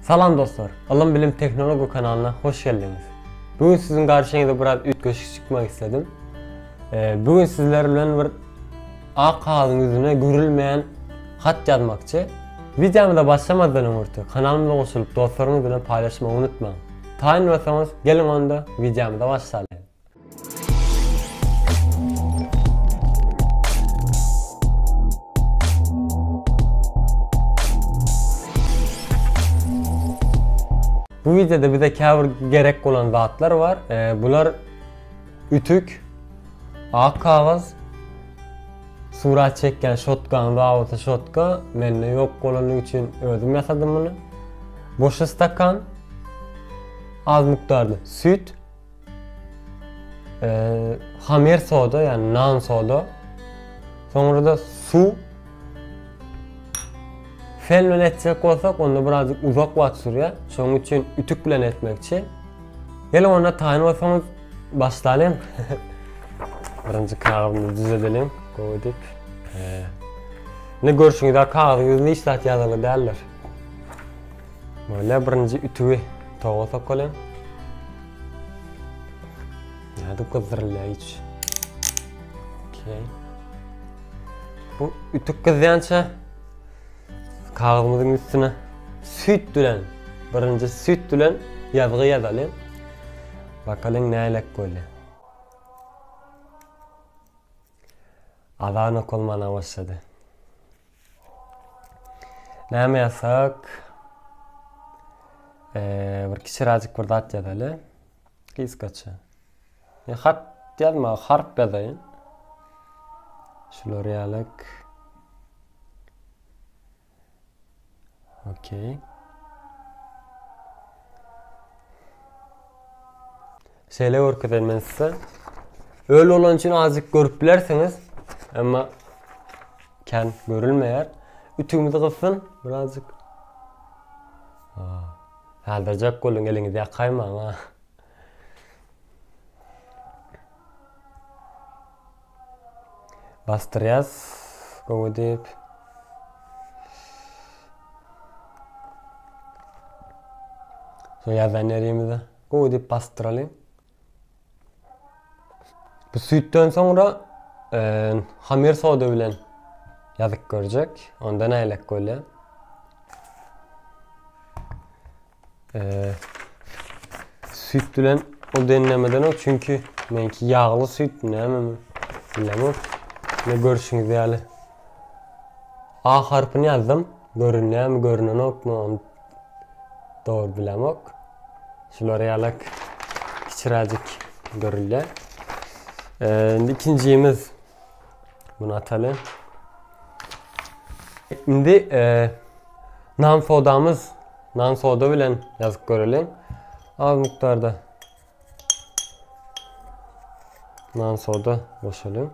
Salam dostlar! Ylym bilim tehnology kanalyna hoş geldiňiz! Bu gün siziň garşyňyza biraz üýtgeşik çykmak isledim. Bu gün sizler bilen bir ak kagyzyň ýüzüne görülmeýän hat ýazmakçy. Wideomyza başlamazdan öňürti kanalymyza goşulyp dostlaryňyz bilen paýlaşmagy unutmaň! Taýyn bolsaňyz geliň onda wideomyza başlalyň! Bu videoda bize käbir gerek bolan zatlar bar. E, bular ütük, ak kagaz, surat çekýän şotka, roboty şotka, mende ýok bolany üçin özüm ýasadym muny. Boş stakan, az mukdarda süt, Hamer soda, ýagny nan soda. Soňra-da suw. Fen bilen etjek bolsak, onda birazjyk uzak wagt sürýär. Şonuň üçin ütük bilen etmekçi. Gel onda taýyn bolsaňyz başlalyň. Birinji kagyzymyzy düzedelim. Goýdyk. Ne görşüňiz, kagyz ýüzünde hiç zat ýazarly däldir. Böyle birinji ütügi toga sokalyň. Nädip gyzdyrylýar hiç. Okey. Bu ütük gyzýança kagyzymyzyň üstüne süýt bilen, birinji süýt bilen ýazgy ýazalyň. Bakalyň nälelik bolýar. Azan okalmana başlady. Näme ýazsak? Eee, bir kiçiräjik bir zat ýazaly. Gysgaça. E, hat ýazma, harp ýazaýyn. Şular ýalak. Okey. Şeýle görkezen men size. Öl bolan üçin azjyk görüp bilersiňiz. Emma kän görülmeýär. Ütümizi gysyn birazjyk. Saldyrjak bolun eliňizi ýakaýmaň ha. Basdyrýas gowy edip. Şo ýazan ýerimize gowy edip basdyralyň. Bu süýtden soňra hamir soda bilen ýazyp görjek. Onda nälik bolýar? süýt bilen ol deňlemeden ol çünki menki ýagly süýt näme bilemok ne görüşüňiz ýaly a harpyny ýazdym görünýärmi görünenokmy onu dogry bilemok şular ýalak kiçiräjik görülýär ee, ikinjimiz Bunu ataly. Şimdi e, nan sodamız nan soda bilen yazıp görelim. Az miktarda nan soda boşalım.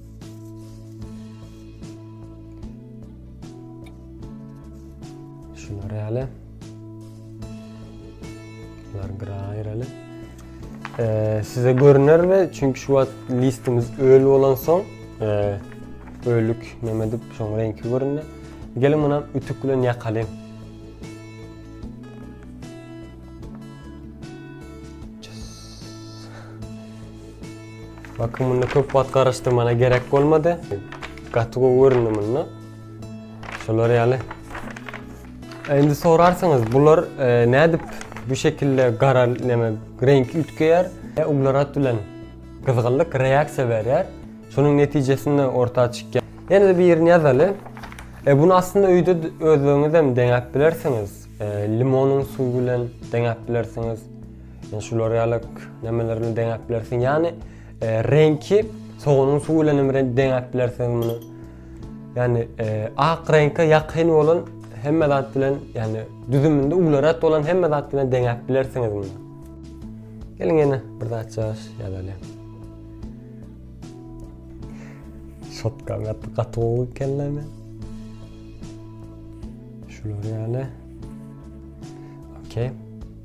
Şunlar ýaly. Bunlar bir aýraly. Ee, size görüner ve çünkü şu an listimiz ölü olan son e, ölük nemedip son renki görünür. Gelin buna ütük bilen yakalayayım. Bakym munda köp wagt garaşdyrmana gerek bolmady. Gaty gowy göründi munda. Şolar ýaly. E, indi sorarsyňyz, bular e, nädip bu şekilde gara näme renk üýtgeýär? E, uglerat bilen gyzgynlyk reaksiýa berýär. Şonuň netijesinde orta çykýar. Ýene-de birini ýazaly. E, bunu aslynda öýde özleriňiz hem deňäp bilersiňiz. E, limonyň suwy bilen deňäp bilersiňiz. Şular ýaly nemeler bilen deňäp bilersiň. Ýani e, reňki soganyň suwy bilen hem reňk deňäp bilersiň muny. Ýani e, ak reňke ýakyn bolan hemme zat bilen, ýani düzüminde ularat bolan hemme zat bilen deňäp bilersiňiz muny. Geliň ýene bir zat çaş ýazaly. Şotka gatdy gaty gowy kelleme. Şular ýaly. Okey.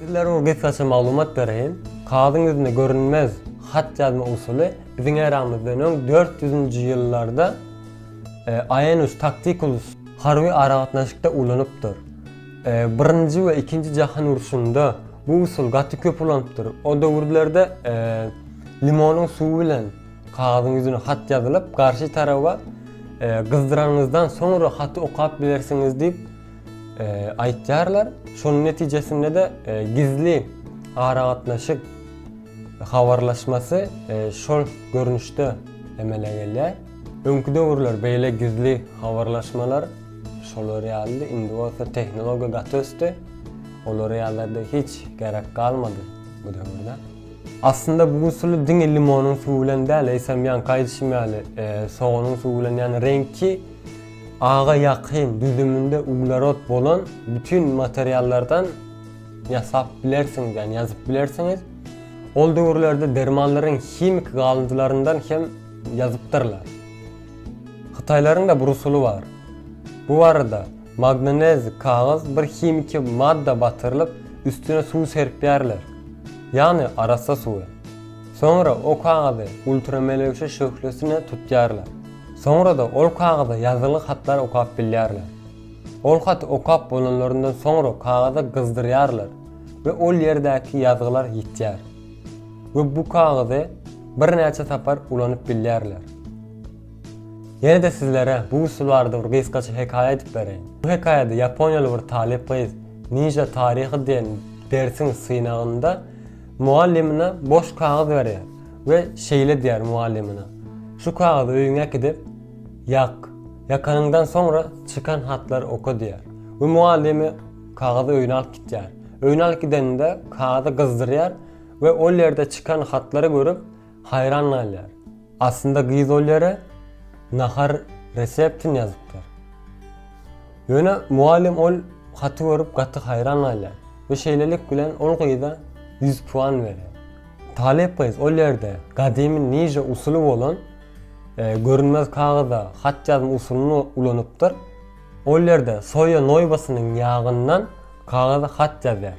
Sizlere o gysgaça maglumat bereýin. Kagyzyň ýüzünde görünmez hat ýazma usuly biziň eramyzdan öň dört ýüzünji ýyllarda e, Aenus Tacticus harby aragatnaşykda ulanypdyr. E, birinji we ikinji jahan urşunda bu usul gaty köp ulanypdyr. O döwürlerde e, limonyň suwy bilen Kagyzyň ýüzüne hat ýazylyp, garşy taraba gyzdyranyňyzdan soňra haty okap bilersiňiz diýip aýtýarlar. Şonuň netijesinde-de gizli aragatnaşyk habarlaşmasy şol görnüşde emele gelýär. Öňki döwürler beýle gizli habarlaşmalar şolar ýalydy, indi bolsa tehnologiýa gaty ösdi. Olar ýalylarda hiç gerek galmady bu döwürde. Aslynda bu usuly diňe limonyň suwy bilen däl, eýsem ýanky aýdyşym ýaly, soganyň suwy bilen, ýagny reňki aga ýakyn, düzüminde uglerod bolan bütin materiallardan ýasap bilersiňiz, ýagny ýazyp bilersiňiz. Ol döwürlerde dermanlaryň himiki galyndylaryndan hem ýazypdyrlar. Hytaýlaryň-da bir usuly bar. Bu barada Magnez kagyz bir himiki madda batyrylyp üstüne suw serpýärler. Ýagny arassa suwy. Soňra o kagyzy ultramelewşe şöhlesine tutýarlar. Soňrada ol kagyza ýazgyly hatlar okap bilýärler. Ol haty okap bolanlaryndan soňra kagyza gyzdyrýarlar we ol ýerdäki ýazgylar ýitýär. We bu kagyzy birnäçe sapar ulanyp bilýärler. Ýene-de sizlere bu usul barada bir gysgaça hekaýa aýdyp bereýin. Bu hekaýada ýaponiýaly bir talyp gyz Ninja taryhy diýen dersiň synagynda mugallymyna boş kagyz berýär we şeýle diýýär mugallymyna, Şu kagyzy öýüňe äkidip, ýak. Ýakanyňdan soňra çykan hatlary oka diýýär. We mugallymy kagyzy öýüne alyp gitýär. Öýüne alyp gideninde kagyzy gyzdyrýar we ol ýerde çykan hatlary görüp, Haýran galýar. Aslynda gyz ol ýere nahar reseptini ýazypdyr. Ýöne mugallym ol haty görüp gaty haýran galýar we şeýlelik bilen ol gyza ýüz puan berýär. Talyp gyz ol ýerde gadymy niže usuly bolan görünmez kagyza hat ýazma usulyny ulanypdyr. Ol ýerde soýa noýbasynyň ýagyndan kagyza hat ýazýar.